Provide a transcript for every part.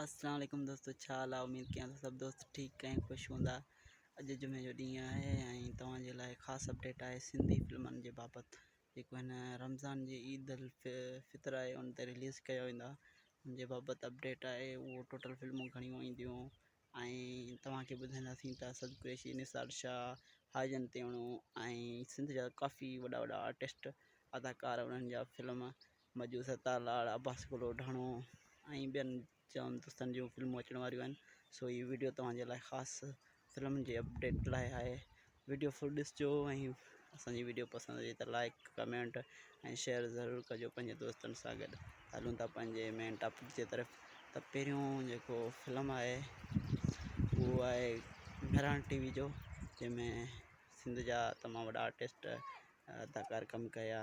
السلام عليڪم دوستو ڇا حال آهي اميد ڪيان ٿو سڀ دوست ٺيڪ ۽ خوش هوندا اڄ جمعي جو ڏينهن آهي ۽ توهان جي لاء خاص اپڊيٽ آهي سنڌي فلمن جي بابت جيڪو هن رمضان جي عيد الفطر آهي ان تي رليز ڪيا ويندا ان جي بابت اپڊيٽ آهي اهو ٽوٽل فلمون گهڻيون اينديون ۽ توهانکي ٻڌائينداسين ته اسد قريشي نثار شاهه حاجن تيوڻو ۽ سنڌ جا ڪافي وڏا وڏا آرٽسٽ اداڪار انهن جا فلم مجو ستار لاڙ، عباس ڪلوڏاڻو ۽ ٻين جام دوستن جون فلمون اچڻ واريون آهن سو هي ويڊيو توهان جي لاء خاص فلمن جي اپڊيٽ لاء آهي ويڊيو فل ڏسجو ۽ اسان جي ويڊيو پسند اچي ته لائڪ ڪمينٽ ۽ شيئر ضرور ڪجو پنهنجي دوستن سان گڏ هلون ٿا پنهنجي مين ٽاپڪ جي طرف ته پهريون جيڪو فلم آهي اهو آهي مهراڻ ٽي وي جو جنهن ۾ سنڌ جا تمام وڏا آرٽسٽ اداڪار ڪم ڪيا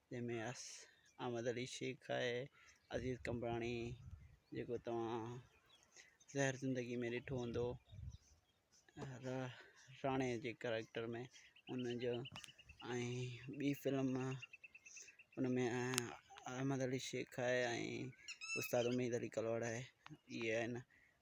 جنهن ۾ اس احمد علي شيخ آهي، عزيز قمبراڻي جيڪو توهان زهر زندگي ۾ ڏٺو هوندو راڻي جي ڪريڪٽر ۾ ان جو ۽ ٻي فلم ان ۾ احمد علي شيخ آهي ۽ استاد اميد علي ڪلواڙ آهي ائين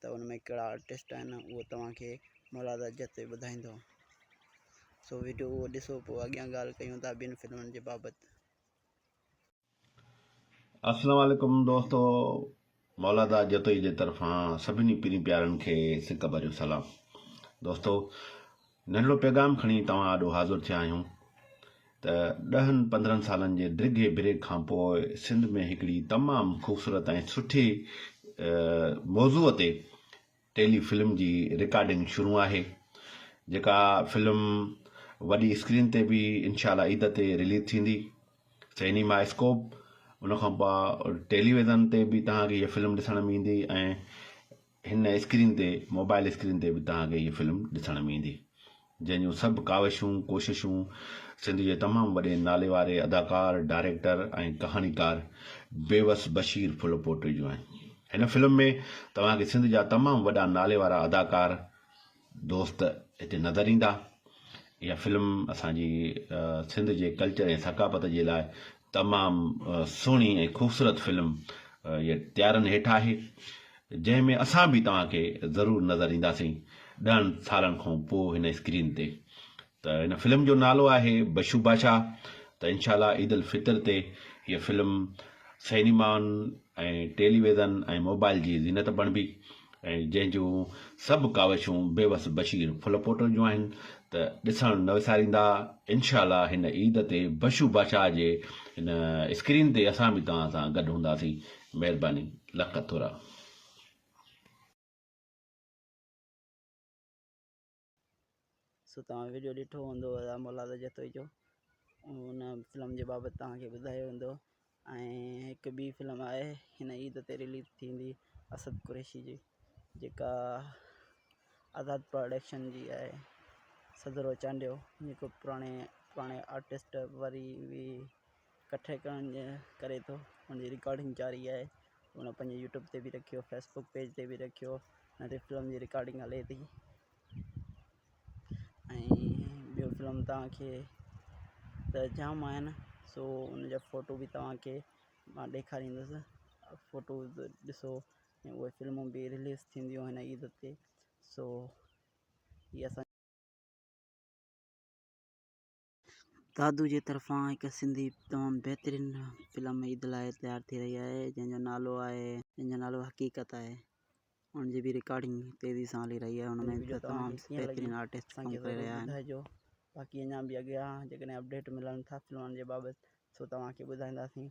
ته ان ۾ ڪهڙا آرٽسٽ آهن اهو توهان کي مراد اجهت ئي ٻڌائيندو. سو وڊيو اهو ڏسو پوء اڳيان ڳالهه ڪيون ٿا ٻين فلمن جي بابت. السلام عليڪم دوستو مولادا جتوئي جي طرفان سڀني پرين پيارن کي سڪ ڀريو سلام دوستو ننڍڙو پيغام کڻي توهان آڏو حاضر ٿيا آهيون ته ڏهن پندرهن سالن جي ڊگهي بريڪ کان پوء سنڌ ۾ هڪڙي تمام خوبصورت ۽ سٺي موضوع تي ٽيلي فلم جي رڪارڊنگ شروع آهي جيڪا فلم وڏي اسڪرين تي به انشاء الله عيد تي رليز ٿيندي سينيما اسڪوپ ان کان پوء ٽيليويزن تي به توهان کي هيء فلم ڏسڻ ۾ ايندي ۽ هن اسڪرين تي موبائل اسڪرين تي به توهان کي هيء فلم ڏسڻ ۾ ايندي جنهن جون سڀ ڪاوشون ڪوششون سنڌ جي تمام وڏي نالي واري اداڪار ڊائريڪٽر ۽ ڪهاڻيڪار بيوس بشير ڦل پوٽي جون آهن هن فلم ۾ توهان کي سنڌ جا تمام وڏا نالي وارا اداڪار دوست هتي نظر ايندا. اها فلم اسان جي سنڌ جي ڪلچر ۽ ثقافت جي لاء تمام سهڻي ۽ خوبصورت فلم اها تيارن هيٺ آهي جنهن ۾ اسان به توهان کي ضرور نظر اينداسين ڏهن سالن کان پوء هن اسڪرين تي ته هن فلم جو نالو آهي بشو بادشاهه ته انشاء الله عيد الفطر تي هيء فلم سئنيمائن ۽ ٽيلي ويزن ۽ موبائل جي زينت بڻبي ۽ جنهن جون سڀ ڪاوشون بيوس بشير ڦل پوٽل جون آهن ته ڏسڻ نه وساريندا انشاء الله هن عيد تي بشو بادشاهه جي هن اسڪرين تي اسان به توهان سان گڏ هونداسين مهرباني لک ٿورا سو توهان ويڊيو ڏٺو هوندو ادا مولاد جتوئي جو ان فلم جي بابت توهان کي ٻڌايو ويندو ۽ هڪ ٻي فلم آهي هن عيد تي رليز ٿيندي اسد قريشي جي جيڪا آزاد پروڊڪشن جي آهي سدرو چانڊيو جيڪو پراڻي پراڻي آرٽسٽ وري وي ڪٺي ڪرڻ جي ڪري ٿو ان جي رڪارڊنگ جاري آهي ان پنهنجي يوٽيوب تي بي رکيو فيسبڪ پيج تي بي رکيو ان تي فلم جي رڪارڊنگ هلي ٿي ۽ ٻيو فلم تان کي ته جام آهن سو ان جا ڦوٽو بي توهان کي مان ڏيکاريندس ڦوٽو ڏسو ۽ اهي فلمون بي رليز ٿينديون هن عيد تي سو هي اسان دادو جي طرفان هڪ سنڌي تمام بهترين فلم عيد لاء تيار ٿي رهي آهي جنهن جو نالو آهي جنهن جو نالو حقيقت آهي ان جي به رڪارڊنگ تيزي سان هلي رهي آهي ان ۾ به تمام بهترين آرٽسٽ ڪم ڪري رهيا آهن باقي اڃا به اڳيان جيڪڏهن اپڊيٽ ملن ٿا فلمن جي بابت سو توهان کي ٻڌائينداسين